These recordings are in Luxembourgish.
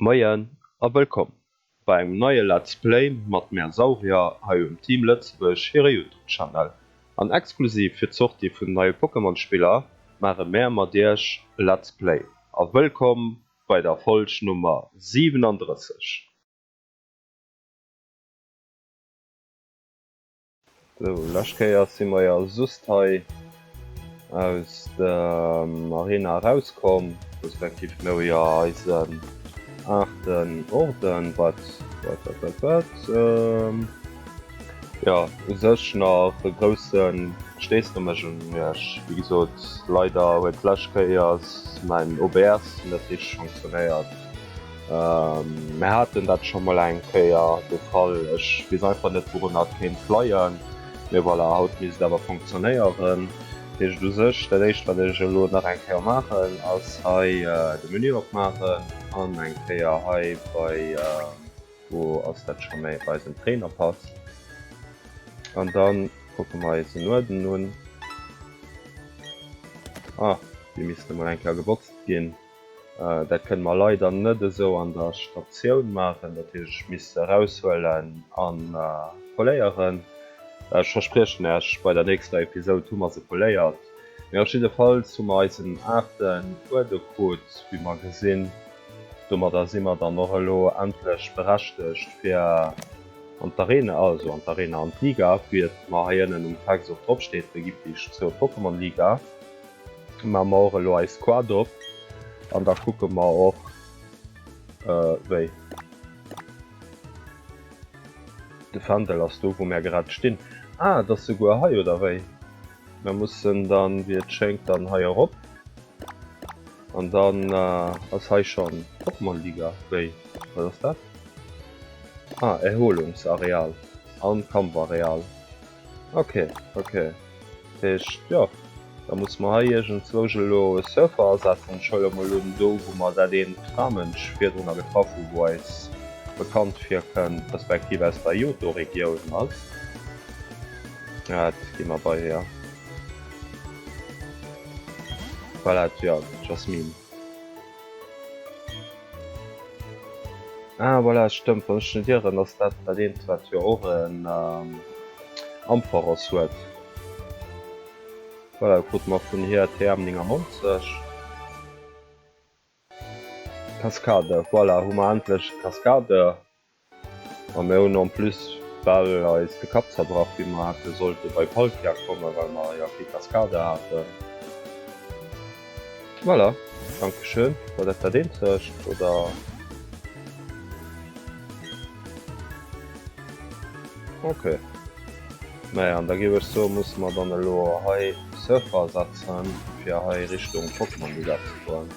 Moien a wëllkomm bei engem neie Let's Play mat mär Saurier hei um Team Lëtzebuerg hire Youtube Channel. An exklusiv fir d'Sortie vun de neie Pokémon Spiller maache mär mat iech e Let's Play. A wëllkomm bei der Folg Nummer 37. Sou, lescht Kéiers si mer jo just hei aus dem Arena erauskomm, respektiv mir hu jo eisen aachten Orden, wat, wat, wat, wat, wat, ehm, jo, u sech nach e grousse Steesch no mech un iech. Wéi gesot, leider huet lescht Kéiers mäin OBS net richteg funktionéiert. Mär haten dat scho mol eng Kéier de Fall. Ech weess einfach net wourun dat kéint leien. Mee voilà, haut misst et awer funktionéieren. Heescht u sech, dat éischt wat ech elo nach eng Kéier maachen ass hei de Menü opmaachen an eng Kéier hei bei, wou ass dat scho méi, bei eisen Trainerpass. An da kucke mer eis en Uerden un. Ah, dee misst emol eng Kéier gebotzt ginn. Dat kënne mer leider net esou an der Statioun maachen, dat hätt ech misste eraushuelen a poléieren. Ech verspriechen Iech, bei der nächster Episode hu mer se poléiert. Mee op jidde Fall hu mer eisen aachten Uerdo krut, wéi mer gesinn. Domadder si mer dann och elo endlech berechtegt fir an d'Arena, also an d'Arena, an d'Liga, wéi et mar hei ënnen um Text och drop steet, Regiptich zur Pokémon Liga. Maa mer och elo eis Squad op an da kucke mer och wéi de Fändel ass do wou mer grad stinn. Ah et ass souguer hei oder wéi? Mer mussen dann wéi et schéngt dann hei erop an dann ass hei schonn Pokémon-Liga? Wéi wat ass dat? Ah Erholungsareal an Kampfareal. Ok ok. Dat heescht, jo, da muss mer hei iergendzwousch elo e Surfer asetzen. Ech huele mol un, do wou mer dat eent Tramënsch virdrun a getraff hu wou eis bekannt virkënnt, respektiv aus der Johto-Regioun ass. Dat gi mer bei hir. Voilà, d'Jasmine. Ah, voilà, stëmmt, wann ech net irren, ass dat dat eent, wat jo och en ähm, Ampharos huet. Voilà, krute mer vun hir TM 99. Cascade, voilà, hu mer endlech Cascade. A mir hunn en plus bal eis de Kapp zerbrach wéi mer hätte sollte bei Palkia kommen, well mer jo kee Cascada haten. Voilà, Dankeschön, war dat dat eenzegt oder? Ok, naja an da géif ech soen musse mer dann elo hei Surfer setzen fir hei Richtung Pokémon Villa ze goen.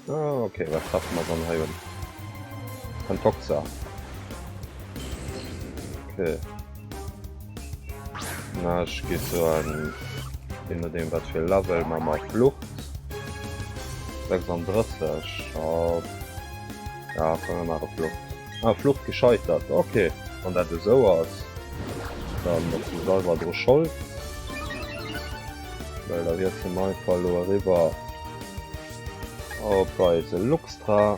Ah, okay, was schaffen wir dann hier? Ein Toxa. Okay. Na, ich gehe so an. Je nachdem, was für Level man mal Flucht. 36. Ja, ja können wir mal Flucht. Ah, Flucht gescheitert. Ok, wann dat esou ass, dann ass du selwer dru schold. Well da wiers du am Einfall lo eriwwer op eise Luxtra.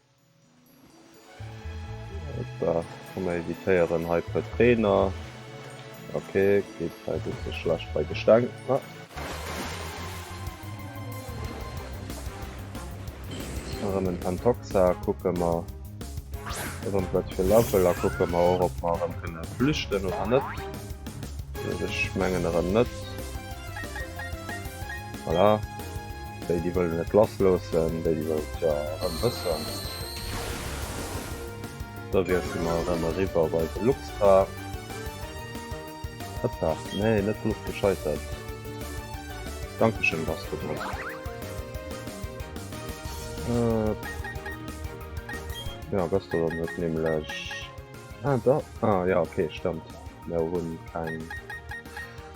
Hoppa, komm mer evitéieren hei puer Trainer. Ok, geet hei bësse schlecht bei de Steng. Ah. Erëm en Pantoxa, kucke mer erëm wat fir Level a kucke mer och op mer erëm kënne flüchten oder net. Ech mengen erëm net. Voilà. Déi déi wëllen net lass loossen, déi déi wëllen et jo erëm wëssen. Da wiessle mer erëm eriwwer bei de Luxtra. Hëppa, nee net Fluch gescheitert. Dankeschön Gastgeber. Äh, ja Gastgeber huet nämlech... Ah da, ah ja okay stëmmt, mir hunn keng...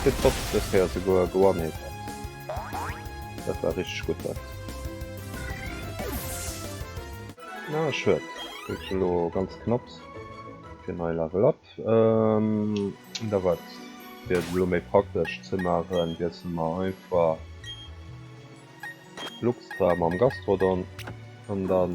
Gutt Bot, dës Kéier souguer geonehitt. Dat war richteg gutt dat. Ah schued, kritt ech elo ganz knapps fir nei Level Up. Da war et fir et elo méi praktesch ze maachen, wiessele mer einfach d'Luxtra mam Gastrodon an dann.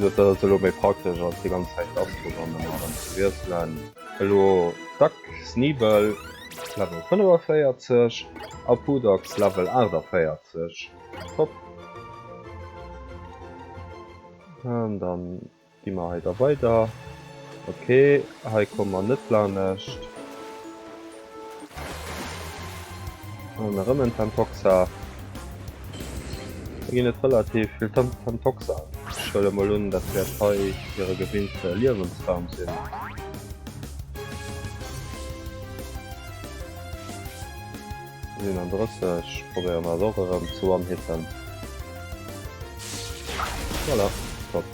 Dat ass elo méi praktesch als déi ganz Zäit d'Astro-Banden erëm ze wiesselen. Elo Duck Sneebell Level 45 a Poodox Level 48. Top. An da gi mer hei da weider. Ok, hei komme mer net lanescht. An erëm en Tantoxa. Da ginn et relativ vill Tantoxa. Ech huele mol un, dat wäert hei hire gewinnte Liewensraum sinn. Sinn an 30, probéiere mer och erëm ze one-hitten. Voilà, top.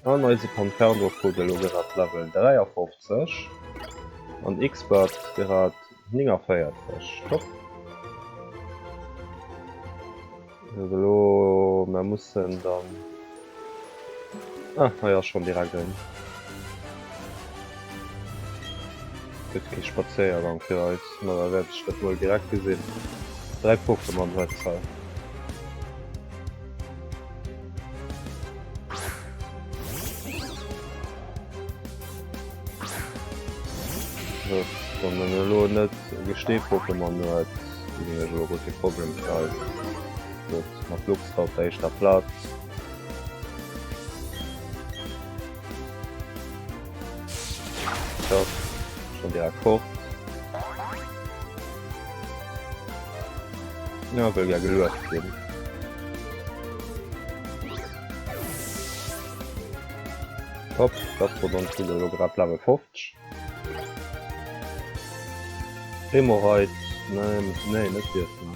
An eise Conferno krut elo grad Level 53 an Xpert grad 49. Top! Elo mer mussen dann. Ah hei ass schonn direkt en. Gëtt kee Spazéiergang fir eis, ma da wäert ech dat wuel direkt gesinn. Dräi Pokémon huet se. Wann man lo net gesteet poppe man huet lo go fir Problem schreiif. Dat mat Lux op der éischter Platz. Schon direkt fort. Ja, wëll ja geluecht ginn. Hopp, dat bot ons Video jo grad Level 50. Hemorrhoid, nein, nee, net dierfen.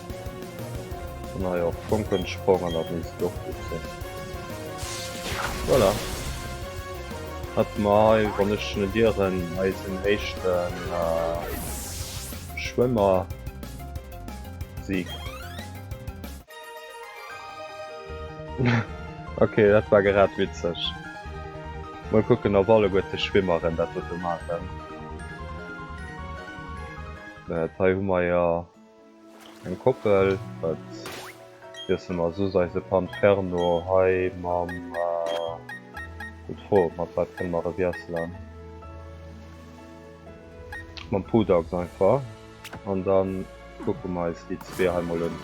Na ja, Funken sprangen, dat misst doch gut sinn. Voilà. Hat mei, wann ech net ieren, eisen éischten äh, Schwëmmer-Sieg. okay, dat war gerad witzeg. Mol kucken, op alleguer ze Schwimmeren dat dote maachen. Äh, hei hu mer jo... Eng Koppel, wat wiesse mer soss? Eise Panferno hei mam. Gutt Fro, mat wat kënne mer e wiesselen? Mam Pudax einfach. An da kucke mer eis déi zwee hei mol un.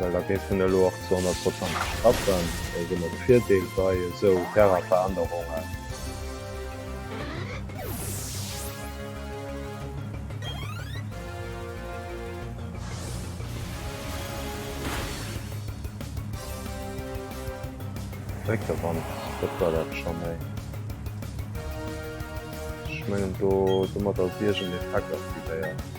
Well da géif en elo och zu 100 Prozent net klappen. Dat ass ëmmer de Virdeel bei esou Terrainverännerungen. Dréck der Wand, dat war dat scho méi. Ech mengen do domat ass iergend Effekt aktivéiert.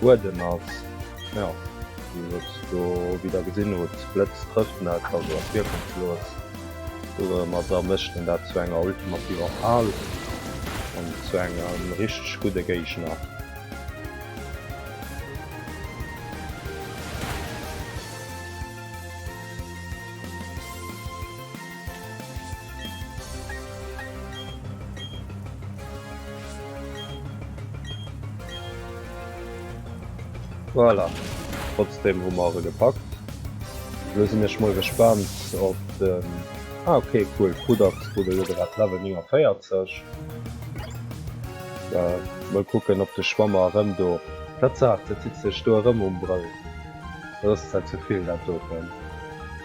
Buedem ass jo wéi sot do wéi der gesinn hutt Blëtz trëfft net also ass wierkungslos domadder mécht en dat zu enger ultimativer Fal an zu engem richteg gudde Géigner. Voilà, trotzdem hu mer se gepackt. Lo sinn ech mol gespannt op den... Ah okay, cool, Krudachs krut elo grad Level 49. Da mol kucken, ob de Schwammer erëm do... Tatsaach, dat sitzt sech do erëm um Brëll. Dat ass zwar ze vill dat doten.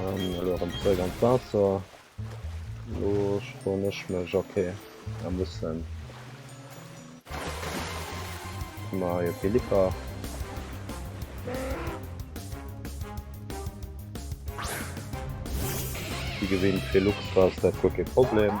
Ähm, elo erëm zréck an d'Waasser. Lo schwonn ech mech, okay. Da mussen ma jo Philippa. Wie gewinnt fir Lux war dat guer kee Problem.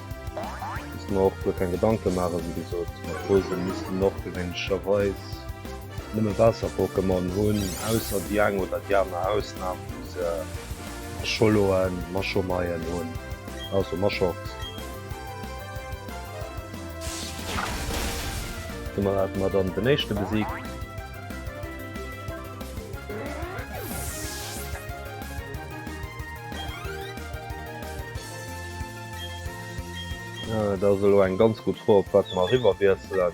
Muss mer och guer keng Gedanke maachen, wéi gesot. Mat Rose misste mer och gewéinlecherweis nëmme Waasser-Pokémon hunn, ausser déi eng oder déi aner Ausnam, wou se Echoloen, Machomeien, hunn, also Machox. Domat hate mer dann den éischte besiegt. Dat ass elo eng ganz gutt Fro op wat mer eriwwer wiesselen.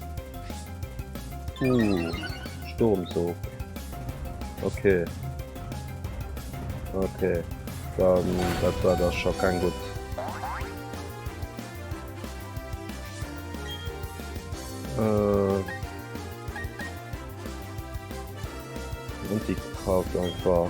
Uh, Sturmzug. Okay. Okay. Dann, das war das schon kein gut. Äh. Und die Kraft einfach.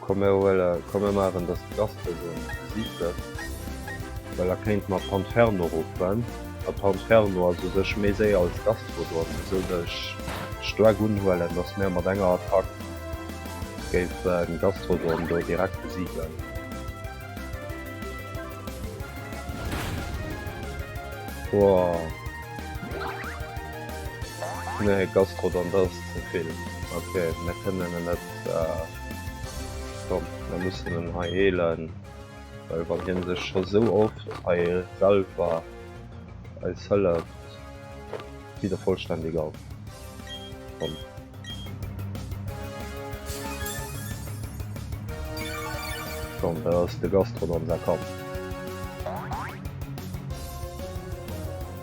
Komm mir huelen, komm mir maachen dass de Gaston do an der Musik sëtzt, well da kéinte mer Panferno ruffen, a Panferno ass u sech méi séier als Gastro do, an esou wëll ech stark unhuelen dass mir mat enger Attack géife Gastrodon do direkt besiegen. Boah nee Gastrodon, dass. Den Film. Ok, mir kënnen en net. Komm, mir mussen en hei heelen, well wann hien sech scho sou oft hei selwer eis hëlleft, geet e vollständig op. Komm. Komm, dat ass de Gastrodon säi Kapp.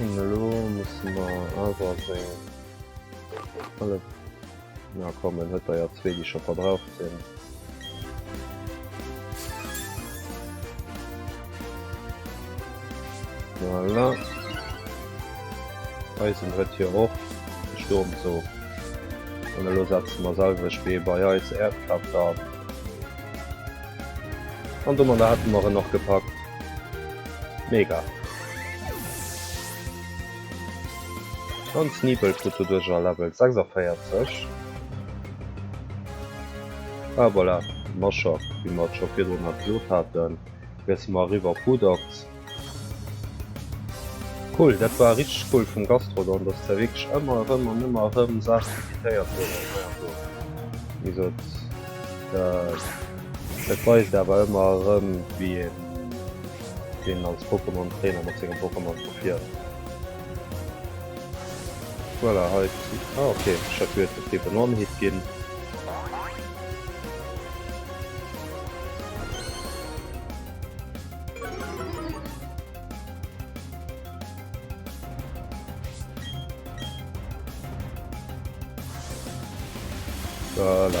Elo musse mer awer seng alle na kommen huet der ja zwee déi scho verbraucht sinn. Voilà. Eisen huet hier och de Sturm zo. An elo setzen mer selwech wéi bei eis Erdkraft an. An do man da hätten mer en och gepackt. Mega. An Sneeple krut doduerch a Level 46. A voilà, Mashaf, wéi mer et scho virdrun nach gesot haten, miesse mer eriwwer op Hoodox. Cool, dat war richteg cool vum Gastrodon, dass der wierklech ëmmer erëm an ëmmer erëm Saachen invitéiert huet an hei an do. Wéi gesot, dat weist awer ëmmer erëm, wéi een. deen als Pokémon Trainer mat sengem Pokémon verfiert. Voilà, hei ah, okay, ich hat geet fir den One-Hit ginn. Voilà.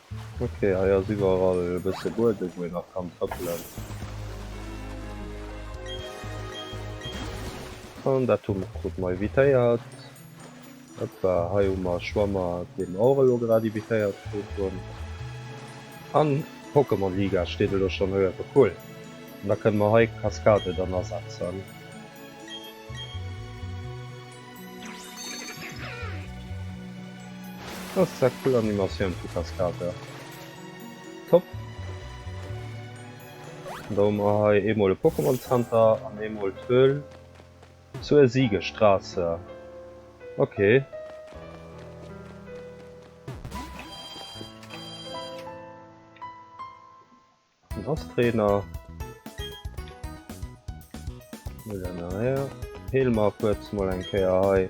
Ok, hei ass iwwerall e bësse Buedem wou een nach kann trëppelen. An dat hu mer krut mer evitéiert. Hoppa, hei hu mer e Schwammer dee mer och elo grad evitéiert krut hunn. An Pokémon Liga steet elo schonn hei uewe, cool. An da kënne mer hei d'Kaskade dann asetzen. Das ist eine coole Animation für Kaskade. Top. Und da haben wir hier einmal ein Pokémon Center und einmal die Höhle zur Siegestraße. Okay. En ass Trainer. Hel mar kuerz mol eng Kéier hei.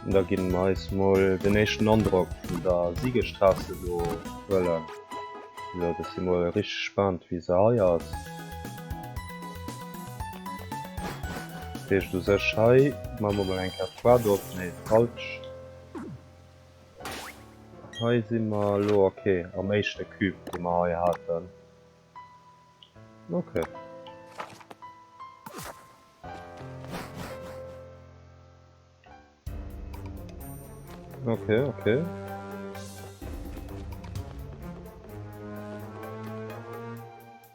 An da ginn mer eis mol den éischten Androck vun der Siegesstraße do huelen. Jo, dat si mol richteg gespaant, wéi se hei ass. Dat heescht u sech hei maache mer mol eng Kéier d'Quad op. Nee, falsch. Hei si mer elo ok am éischte Cube dee mer hei haten. Ok. Ok, ok.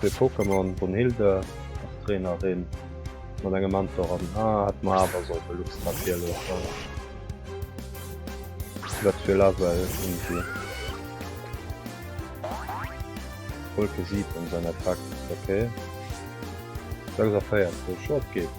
Zwee Pokémon, Brunhilde als Trainerin mat engem Mentor an ah, hätt mer awer soll Belux grad hier loossen. Wat fir Level hunn si? Wolke 7 säin Attack, okay. 46, jo et geet.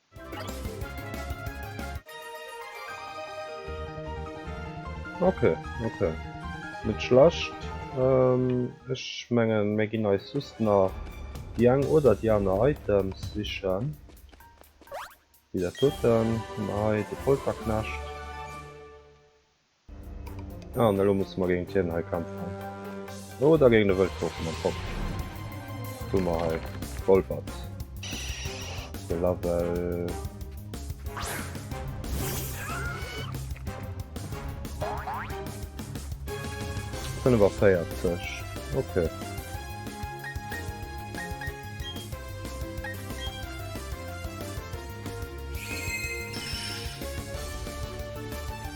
Ok, ok. Net schlecht. Ech mengen mir ginn eis just nach déi eng oder déi aner Items sichen. Wéi dat doten, hunn mer hei de Polterknecht. Ah, an elo musse mer géint hien hei kämpfen. Oder géint e Wëldwolf mam Pop. Hu mer hei Golbert. De Label. Kënne war 40. Okay.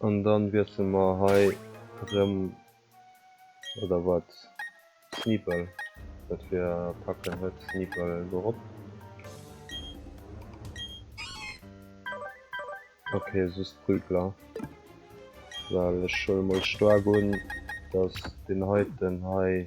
An dann wiessle mer hei rem, oder wat? Sneeple, wat fir Attacken huet Sneeple dorop? Ok, just Prügler, well ech huele mol staark un, dass deen heiten hei.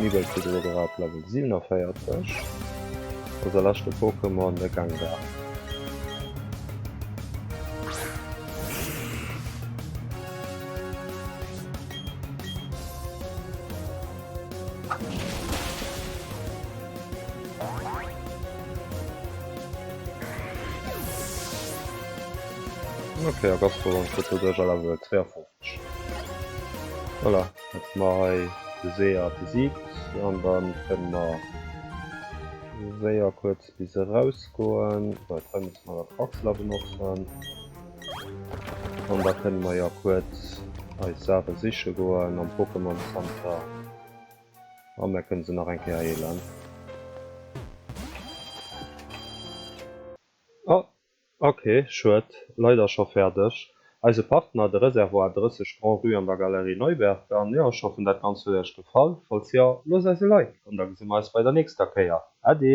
Nibel kritt elo grad Level 47, wou säi leschte Pokémon e Gang war. Okay, a Gastro an Foto duerch a Level 52. Voilà, jetzt mal hei de Seer besiegt und dann können wir sehr kurz bis rausgehen. So, jetzt haben wir mal das Axler benutzen. Und da können wir ja kurz als Sache sicher gehen am Pokémon Center. An da kënne se nach eng Kéier heelen. Oh, ok, schued, leider scho fäerdeg. Eise Partner, de Reservoir 30 Grand Rue an der Galerie Neuberg. An jo, ech hoffen dat Ganzt huet Iech gefall. Falls jo, loosst eis e Like an da gesi mer eis bei der nächster Kéier. Äddi!